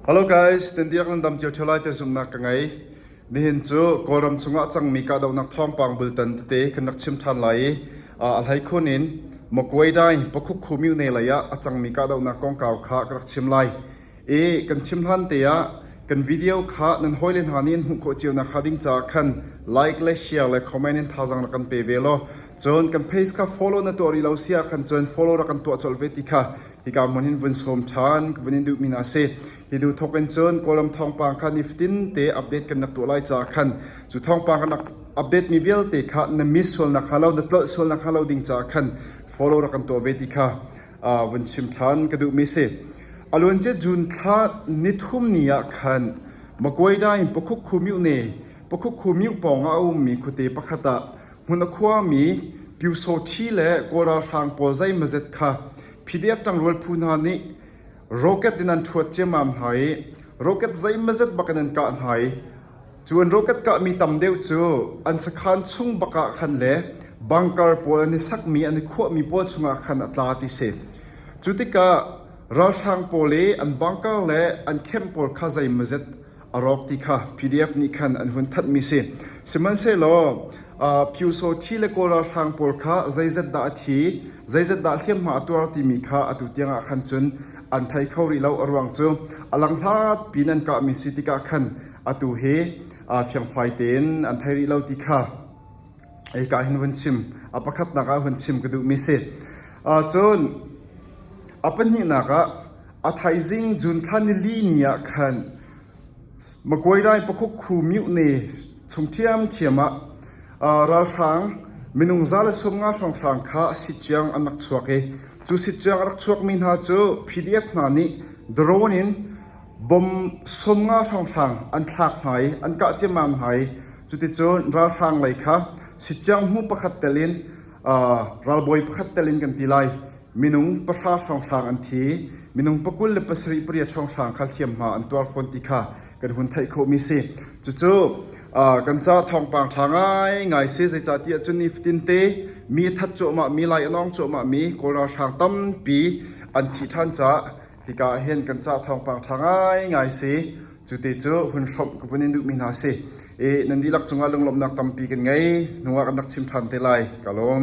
Hello guys, Tintiak nan dam cio ṭheo lai tiah zumhnak ka ngei. Nihin cu Kawlram chungah cangmi kahdohnak thawngpang bultan tete kan rak chim ṭhan lai i a hleikhun in Magway-Dai Pakhukhu myone lei ah a cangmi kahdohnak kongkau kha ka rak chim lai. I kan chim hlan te ah kan video kha nan hawi le hna nih an hmuh khawh cio nakhnga ding caah khan like le share le comment in thazang rak kan pe ve law cun kan page kha follow na tuah rih lo si ah khan cun follow rak kan tuah colh ve ti kha Hika mon hin vun sawm ṭhan ka vun in duhmi hna a si. Hi hnu thawk in cun Kawlram thawngpang kha nifatin te update kan rak tuah lai ca khan cu thawngpang kan rak update mi vialte kha na miss sualnak kha lo na tlolh sualnak kha lo ding ca khan follow rak kan tuah ve ti kha uh, vun chim ṭhan ka duhmi si. Aluan ce June thla nithum ni ah khan Maguida in Pakhuk Khumiu ne Pakhuk Khumiu pawng ah a ummi khuate pakhat ah Hmun a khuami Pyusawhthi le Kawl ralhrang pawl zeimazet kha PDF ṭangrual phu hna nih rocket in an ṭhuat ciammam hna i rocket zeimazet bakin an kah hna i cu an rocket kahmi tam deuh cu an sakhan chung bakah khan le bunker pawl an i sakmi an i khuahmi pawl chungah khan a tla ti si. Cu tikah ralhrang pawl i an bunker le an camp pawl kha zeimazet a rawk ti kha PDF nih khan an hun thanhmi si. Sihmanhsehlaw Pyuso thi le Kawl ralhrang pawl kha zeizat dah a thi, zeizat dah hliamhma a tuar timi kha atu tiangah khan cun an thei kho rih lo a ruang cu a lang hlat piin an kahmi si tikah khan atu hi fiangfai tein an thei rih lo ti kha Eika hin vun chim. A pakhatnak ah vun chim ka duhmi si. Cun a pahnihnak ah a thaizing June thla nili ni ah khan Makuairai pakhuk khu miu ne chung thiam thiam ah ralhrang minung za le sung nga hrawnghrang kha sitcuang an rak chuak i cu sitcuang a rak chuakmi hna cu PDF hna nih drone in Bom sawm nga hranghrang an thlak hna i an kah ciammam hna i cuticun ralhrang lei kha sitciangmu pakhat telin ralbawi pakhat telin kan ti lai. Minung pahra hranghrang an thi i minung pakul le pasarih pariat hranghrang kha hliamhma an tuar fawn ti kha kan hun theih khawhmi a si. Cucu kan caah thawngpang ṭha ngaingai a si. Zeicahtiah cun nifatinte mi a that cuahmahmi, lai a nawng cuahmahmi Kawl ralhrang tampi an thi ṭhan caah Hika ah hin kan cah thawngpang ṭha ngaingai si. Cute cu hun hrawmh ka vun in duhmi hna si. I nan dihlak cungah lunglawmhnak tampi kan ngei. Nungak an rak chim ṭhan te lai. Ka lawm.